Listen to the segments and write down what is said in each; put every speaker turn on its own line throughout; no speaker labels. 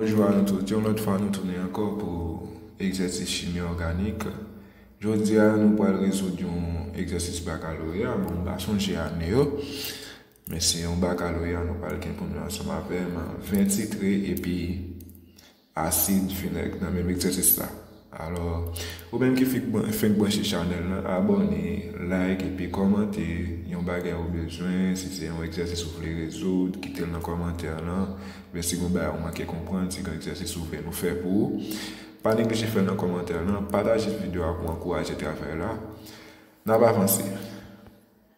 Bonjou a nou tout, yon lòt fwa nou tounen ankò pou egzèsis chimi òganik. Jodi a nou pral rezoud yon egzèsis bakaloreya, bon m pa sonje ane yo, men se yon bakaloreya nou pral gen pou nou ansanm avèm, 20 titre epi. asid, vinèg nan menm egzèsis la. Alò, ou menm ki fenk branche chanèl lan, abòne, like epi kòmante yon bagay ou bezwen, si se yon egzèsis ou vle rezoud, kite l nan kòmantè lan, oubyen si gon bagay ou manke konprann, si gen egzèsis ou vle nou fè pou ou, pa neglije fè l nan kòmantè lan, pataje videyo a pou ankouraje travay la. N ap avanse!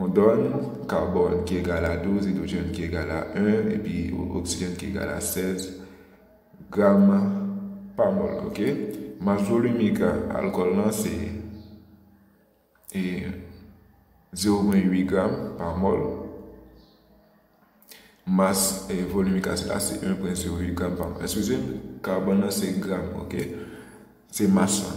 On donn, karbòn ki egal a 12, idwojèn ki egal a 1, epi oksijèn ki egal a 16 gram pa mòl. Ok. Mas volimik alkòl lan se 0,8 gram pa mòl. Mas volimik asid la se 1,08 gram pa mòl. Eskize m, karbòn lan se gram. Ok. Se mas lan.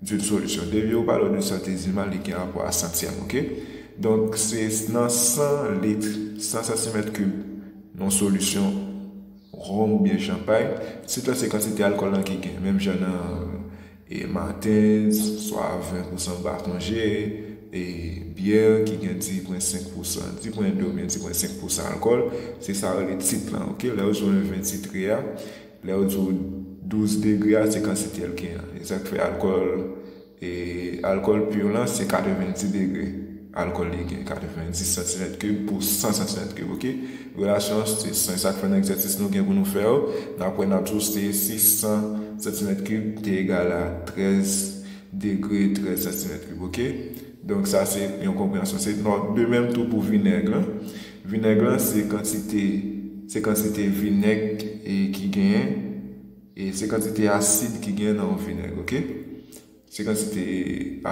D'une solution. Devi ou pale de sante Zima li gen rapò a sant sèm ok. Donk se nan 100 litre, 100 santimèt kib yon solisyon Ronm oubyen chanpay, se tan se kantite alkòl lan ki gen. Menm jan nan e Martens, swa 20 pousan ba kon je, e byè ki gen 10 pwen 5 pousan, 10 pwen 2 oubyen 10 pwen 5 pousan alkòl, se sa yo rele tit lan ok. Lè yo jwenn 20 titre a. Lè yo di w 12 degre a se kantite l gen an. E sa k fè alkòl e alkòl pur lan se 90 degre alkòl li gen. 90 santimèt kib pou 100 santimèt kib ok. Relasyon an se 100. E sa k fè nan egzèsis nou gen pou nou fè yo n ap wè n ap di w se si 100 santimèt kib te egal a 13 degre 13 santimèt kib ok. Donk sa se yon konpreyansyon. Se de menm tou pou vinèg lan. Vinèg lan se kantite se kantite vinèg ki genyen e se kantite asid ki genyen nan yon vinèg ok se kantite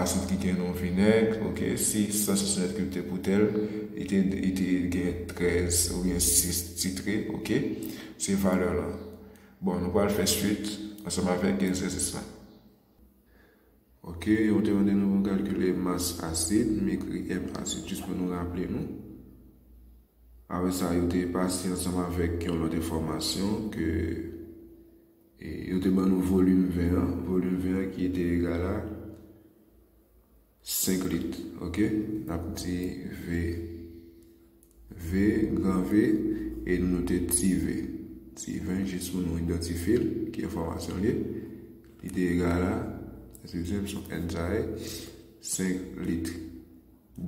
asid ki genyen nan yon vinèg ok si 100 santimèt kib te poutèl li te li te genyen 13 oubyen 6 titre ok se valè lan bon nou pral fè swit ansanm avèk egzèsis lan. Ok, yo te mande nou pou kalkile mas asid, m ekri M asid jis pou nou raple nou. Apre sa, yo te pase ansanm avèk yon lòt enfòmasyon ke yo te ban nou volim ven an, volim ven an ki te egal a. 5 lit ok nap di ve ve gran ve e nou note ti ve ti ven jis pou nou idantifye l ki enfòmasyon l ye li te egal a eskize'm son n sa ye 5 lit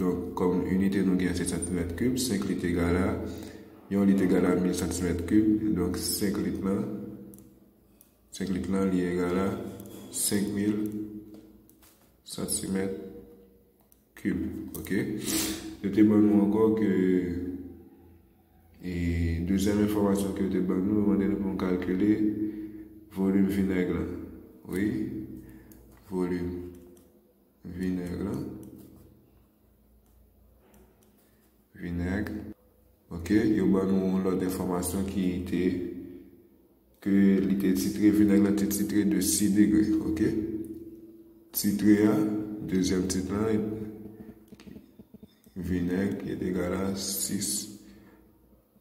donk kòm inite nou gen se santimèt kib 5 lit egal a yon lit egal a 1000 santimèt kib donk 5 lit lan Sèk lik lan li egal a 5000 santimèt kib. Ok. Yo te ban nou ankò ke e dezyèm enfòmasyon ke yo te ban nou, yo mande nou pou nou kalkile volim vinèg lan. Wi. Volim vinèg lan. Vinèg. Ok. Yo ban nou yon lòt enfòmasyon ki te. Ke li te titre vinèg lan te titre de six degre ok titre a dezyèm tit lan vinèg ki est egal a six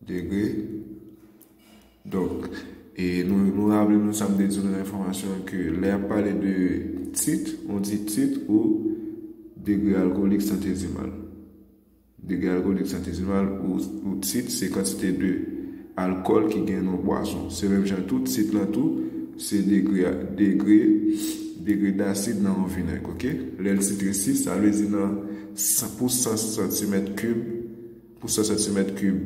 degre donk e nou raple nou sa m te di nou nan enfòmasyon an ke lè ap pale de tit on di tit ou degre alkoolik santezimal. Degre alkolik santizimal ou tit se kantite de alkòl ki gen nan bwason. Se menm jan tou tit lan tou se degre degre degre dasid nan yon vinèg ok. Lè l titre 6 sa vle di nan pou 100 santimèt kib pou 100 santimèt kib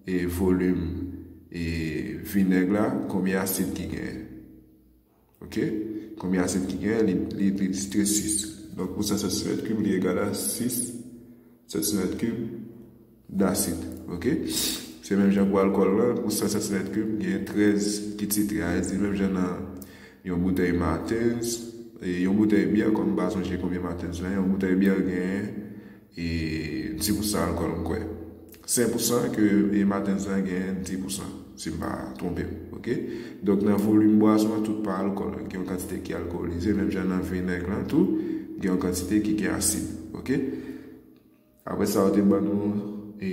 e volim e vinèg la konbyen asid ki genyen. Ok. Konbyen asid ki genyen? Li titre 6. Donk pou 100 santi mèt kib li egal a 6 santi mèt kib dasid. Ok. Se menm jan pou alkòl lan. Pou 100 santi mèt kib genyen 13 ki titre. A edi menm jan nan yon boutèy Martens. Yon boutèy byè kòm m pa sonje konbyen Martens la. Yon boutèy byè genyen. E di pou san ankò m kwè. Sen pou san ke e matens lan gen di pou san. Si m pa twonpe m. Ok. Donk nan volim bwason an tout pa alkòl. Gen yon kantite ki alkolize. Menm jan nan vinèg lan tou. Gen yon kantite ki gen asid. Ok. Apre sa yo te ban nou e.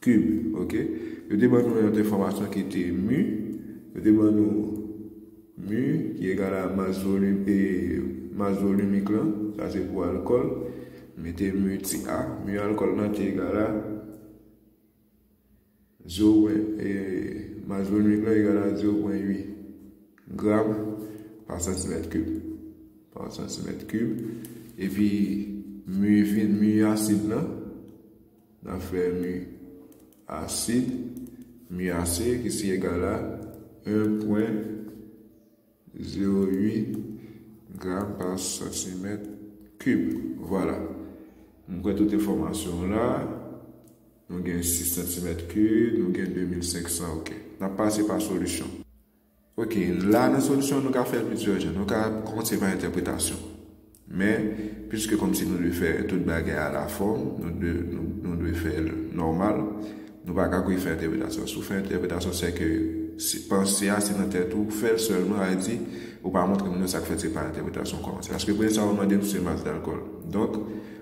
Kib. Ok. Yo te ban nou yon lòt enfòmasyon ki te mu. Yo te ban nou mu ki egal a mas volim e mas volimik lan. Sa se pou alkòl. Mete mu ti a. Mu alkòl lan te egal a zero pwen e mas volimik lan egal a zero pwen ui gram pa santimèt kib. Pa santimèt kib. Epi mu vin mu asid lan. Nan fè mi ase, mi ase ki si egal a 1,08 gram pa santimèt kib. Vwala. M kwè tout enfòmasyon w la. Nou gen 6 santimèt kib, nou gen 2500 ok. N ap pase pa solisyon. Ok, la nan solisyon nou ka fè plizyè jan, nou ka kòmanse pa entèpretasyon. Men, piske kòmsi nou dwe fè tout bagay a la fòm, nou dwe fè l nòmal, nou pa ka kwe fè entèpretasyon. Si w fè entèpretasyon sè ke panse a se nan tèt ou, fè l sèlman sa vle di ou pa montre moun yo sa k fèt se pa entèpretasyon w kòmanse. Paske premye sa w ap mande m se mas dalkòl. Donk.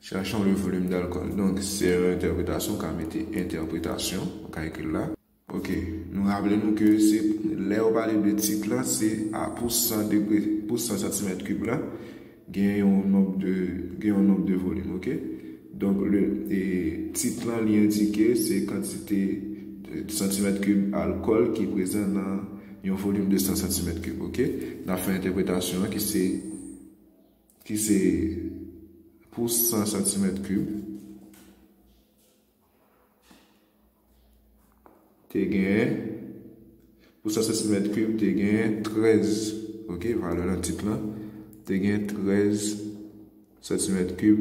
Chachon le volume d'alcool donk se yon entèpretasyon ka mete entèpretasyon ou ka ekri l la. Ok nou raple nou ke se lè yo pale de tit la se a pou 100 degre pou 100 santimèt kib la gen yon nonb de gen yon nonb de volume ok donk le e tit lan li endike se kantite santimèt kib alkòl ki prezan nan yon volume de 100 santimèt kib ok n ap fè entèpretasyon an ki se. Ki se pou 100 santimèt kib. Te gen. Pou 100 santimèt kib te gen 13. Ok, valè lan tit lan. Te gen 13 santimèt kib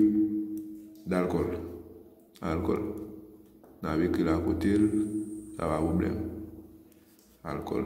dalkòl. Alkòl. N ap ekri l akote l. Sa pa pwoblèm. Alkòl.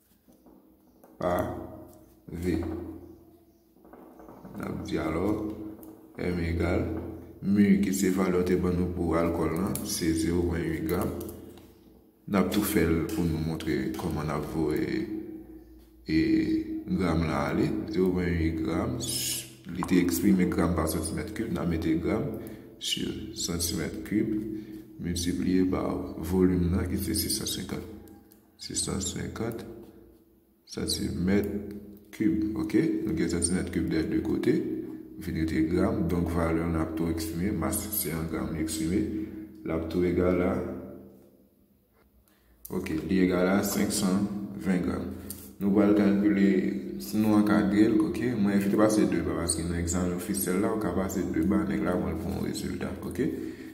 A. V. N ap di alò, M egal, mu ki se valè yo te ban nou pou alkòl lan, se 0 pwen 8 gram. N ap tou fè l pou nou montre kòman n ap voye e gram lan ale. 0 pwen 8 gram, li te eksprime gram pa santimèt kib, n ap mete gram si santimèt kib miltipliye pa volim lan ki se 650. 650 santimèt kib ok nou gen santimèt kib dè 2 kote vin rete gram donk valè an ap tou eksprime mas se an gram li eksprime l ap tou egal a ok li egal a 520 gram nou pral kalkile si nou ankadre l ok mwen evite pase 2 ba paske nan egzanmen ofisyèl la ou ka pase 2 ba nèg la pran l pou yon rezilta ok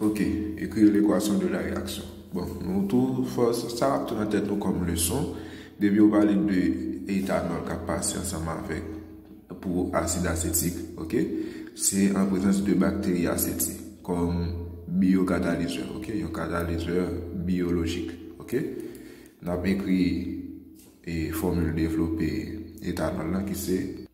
Ok écrire l'équation de la réaction bon nou tou fò sa ap tou nan tèt nou kòm leson depi yo pale de etanòl kap pase ansanm avèk pou asid asetik ok se an prezans de bakteri aseti kòm biyokatalizè ok yon katalizè biyolojik ok nap ekri e fòmil devlope etanòl la ki se.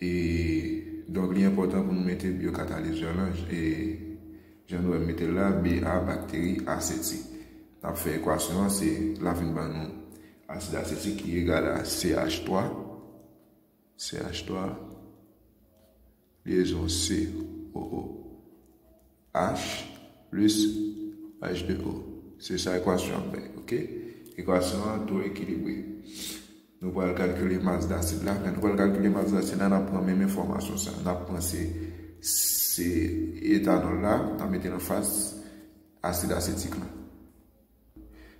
E donk li enpòtan pou nou mete byokatalizè lan e jan nou wè m mete l la Ba bakteri asetik. N ap fè ekwasyon an se l ap vin ban nou asid asetik ki egal a CH 3 CH 3 lyezon CO O. H plis H2O. Se sa ekwasyon an bay. Ok? Ekwasyon an dwe ekilibre. Nou pral kalkile mas dasid la. Lè nou pral kalkile mas dasid la, n ap pran menm enfòmasyon sa a. N ap pran se etanòl la, n ap mete l anfas asid asetik la.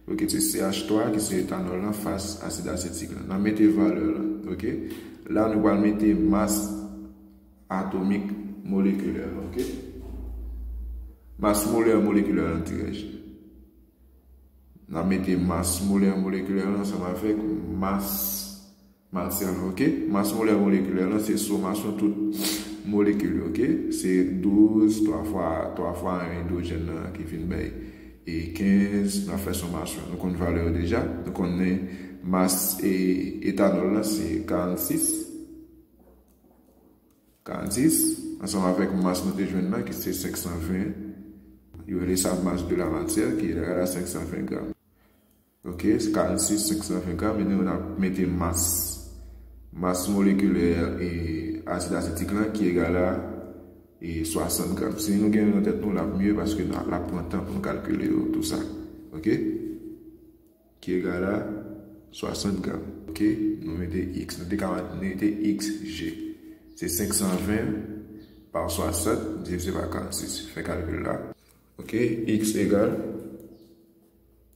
Ok se CH 3 ki se etanòl lan fas asid asetik lan. Nan mete valè lan. Ok. La nou pral mete mas atomik molekilè lan. Ok. Mas molè molekilè lan dirèj. Nan mete mas molè molekilè lan ansanm avèk mas. Matyè lan ok. Mas molè molekilè lan se somasyon tout molekil yo ok. Se 12 twa fwa 3 fwa 1 idwojèn lan ki vin bay e 15 nan fè somasyon nou konn valè yo deja nou konnen mas etanòl lan se 46 46 ansanm avèk mas nou te jwenn lan ki se 520 yo rele sa mas de la matyè ki egal a 520 gram. Ok, se 46, 520 gram, ebyen ou nan mete mas, mas molekilè e asid asetik lan ki egal a e 60 gram. Si nou gen yo nan tèt nou, l ap mye paske l ap pran tan pou nou kalkile yo tou sa. Ok, ki egal a 60 gram. Ok, nou mete x, nou te ka mete x, g. Se 520 pa 60 divize pa 46, fè kalkil la. Ok, x egal.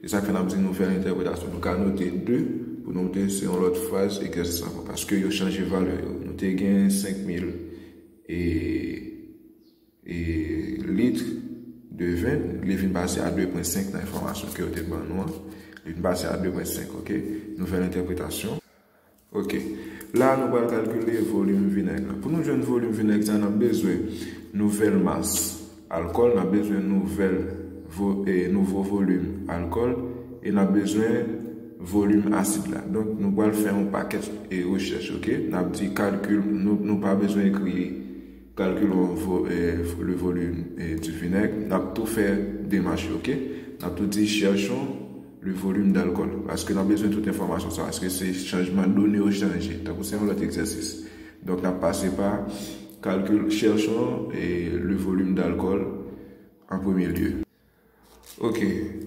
E sa k fè n ap di nou fè entèpretasyon? Nou ka note de pou nou te se yon lòt fraz egzanp sa ankò paske yo chanje valè yo. Nou te gen 5000 e e lit de ven, li vin pase a 2 pwen 5 nan enfòmasyon ke yo te ban nou an. Li vin pase a 2 pwen 5, ok. Nouvèl entèpretasyon. Ok. La a nou pral kalkile volim vinèg la. Pou nou jwenn volim vinèg sa a, n ap bezwen nouvèl mas alkòl, n ap bezwen nouvèl vo e nouvo volim alkòl e n ap bezwen volim asid la. Donk nou pral fè yon pakèt e rechèch ok. N ap di kalkil nou nou pa bezwen ekri kalkilon vo e le volim e di vinèg. N ap tou fè demach yo ok. N ap tou di chèchon. Le volume d'alcool. Paske nan bezwen tout enfòmasyon sa. Eske se chanjman done yo chanje. Tankou se yon lòt egzèsis. Donk nap pase pa calcul, cherchons le volume d'alcool en premier lieu. Ok.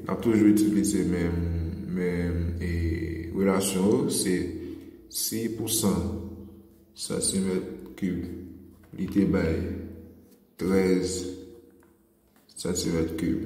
Nap toujou itilize menm relasyon yo. Se si pou 100 santimèt kib li te bay 13 santimèt kib.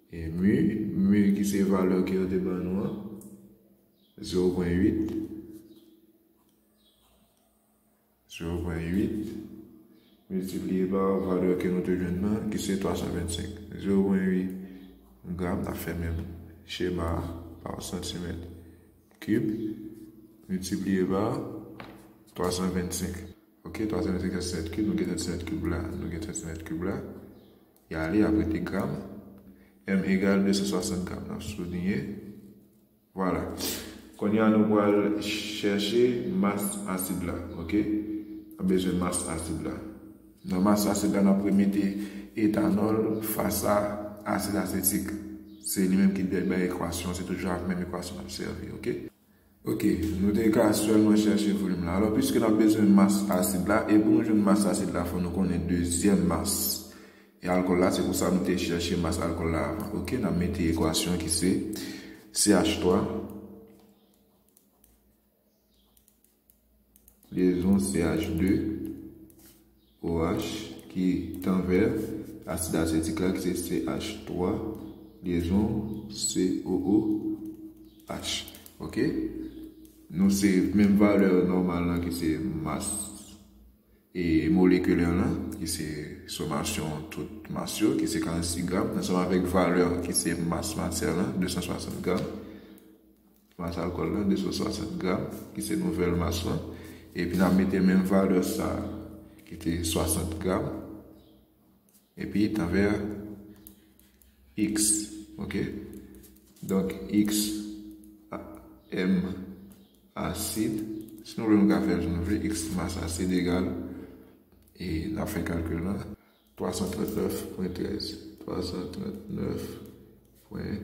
Mu, mu ki se valè ke yo te ban nou an, zewo pwen uit, zewo pwen uit, miltipliye pa valè ke nou te jwenn nan, ki se 325. Zewo pwen uit gram, nap fè menm chema a, pa santimèt kib, miltipliye pa 325. Ok, 325 santimèt kib, nou gen santimèt kib la, nou gen santimèt kib la, Ya ale apre te gram. M egal 260 gram. N ap souliye. Vwala. Kounye a nou pral chèche mas asid la. Ok? N ap bezwen mas asid la. Nan mas asid la, n ap remete etanòl fas a asid asetik. Se li menm ki bay ekwasyon. Se toujou ak menm ekwasyon n ap sèvi. Ok? Ok, nou te ka sèlman chèche volim la. Alò, piske n ap bezwen mas asid la, e pou nou jwenn mas asid la, fò nou konnen dezyèm mas e alkòl la, se pou sa nou te chèche mas alkòl la avan. Ok, n ap mete ekwasyon ki se CH3. Lyezon CH de OH ki tanvè asid asetik la ki se CH twa lyezon COO H. Ok. Nou se menm valè nòmal lan ki se mas e molekilè lan ki se somasyon tout mas yo ki se 46 gram ansanm avèk valè ki se mas matyè lan 260 gram. Mas alkòl la 260 gram ki se nouvèl mas lan epi n ap mete menm valè sa a ki te 60 gram epi tanvè a x ok donk x m asid si nou vle nou ka fè l jan nou vle x mas asid egal e n ap fè kalkil la 339 pwen 13 339 pwen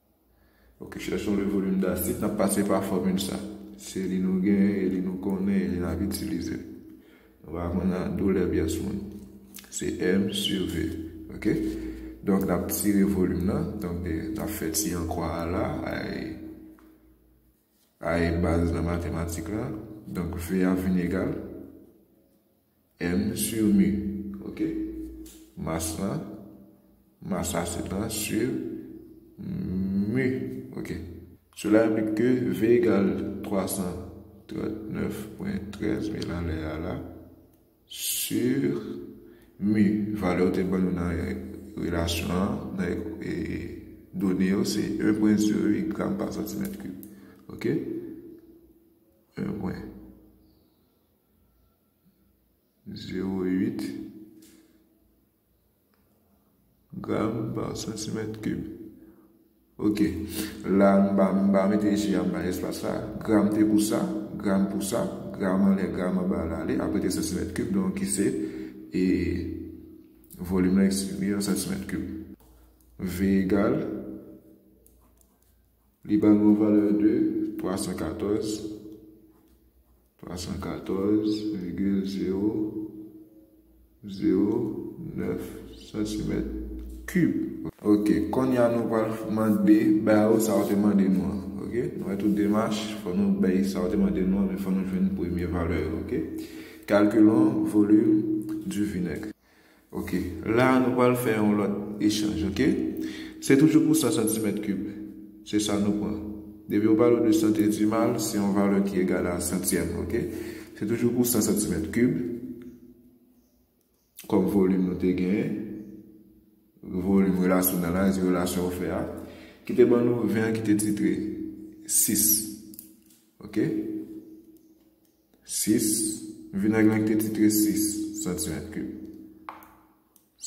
Ok, chèchons le volume d'acide, n ap pase pa fòmil sa. Se li nou gen, e li nou konnen, e li n ap itilize. Nou va aprann nan doulè pyès moun. Se M sur V. Ok? Donk, n ap tire volim nan. Donk, n ap fè ti ankwa a la. A e baz nan matematik la. Donk, V a vin egal. M sur mu ok mas lan mas la se lan sur mu ok sela enplik ke v egal 339.13 mil anlè a la sur mu valè yo te ban nou nan relasyon an nan done yo se 1.08 gram pa santimèt kib ok 1. Zewo uit gram pa santimèt kib. Ok. La m pa m pa mete je a m bay espas sa. Gram te pou sa, gram pou sa, gram anlè, gram anba al ale. Apre te santimèt kib donk ki se e volim la eksprime an santimèt kib. V egal, li ba nou yon valè de 314. 314 vigil zewo zewo nèf santimèt kib. Ok konnya nou pral mande bay ou sa ou te mande nou an ok nou wè tout demach fò nou bay sa ou te mande nou an men fò nou jwenn premye valè yo ok calculons volume du vinaigre. Ok la nou pral fè yon lòt echanj ok se toujou pou 100 santimèt kib se sa nou pran depi yo pale w de santezimal se yon valè ki egal a santyèm ok se toujou pou 100 santimèt kib kòm volim nou te gen volim relasyon nan la di relasyon ou fè a ki te ban nou 20 ki te titre 6 ok 6, Vinèg lan ki te titre 6 santimèt kib.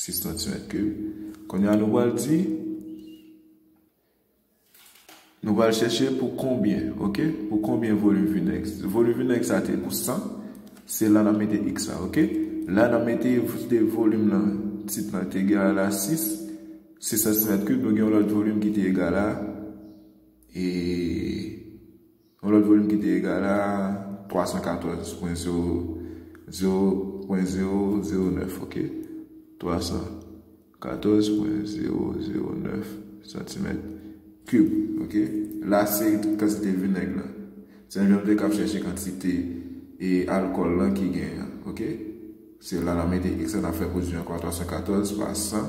6 santimèt kib. Kounye a nou pral di, nou pral chèche pou konbyen, ok? Pou konbyen volim vinèg? Volim vinèg sa te pou 100, se la nan mete x la, ok? La nan mete volim lan, tit lan te egal a 6, 6 santimèt kib, nou gen yon lòt volim ki te egal a, e... Yon lòt volim ki te egale a 314,000,009 ok 314,009 santimèt kib ok la se kantite vinèg lan se menm jan nou te kab chèche kantite e alkòl lan ki gen an ok se la n ap mete èks la n ap fè pwodui ankò 314 pa 100.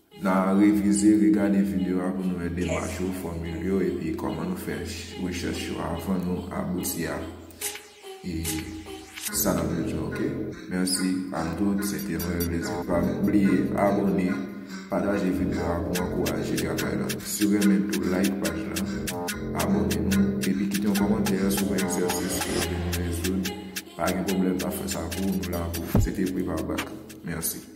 Na revize, regade video a pou nou wè demach yo, fòmil yo epi kòman nou fè rechèch yo avan nou abouti a sa nap jwenn yo ok. Merci a tout se te yon rèl plezi pam bliye abone pataje video a pou ankouraje travay la si w renmen tou like paj la abone nou epi kite yon kòmantè sou yon egzèsis ke w vle nou rezoud pa gen pwoblèm nap fè sa pou w nou la pou w se te Privabak merci.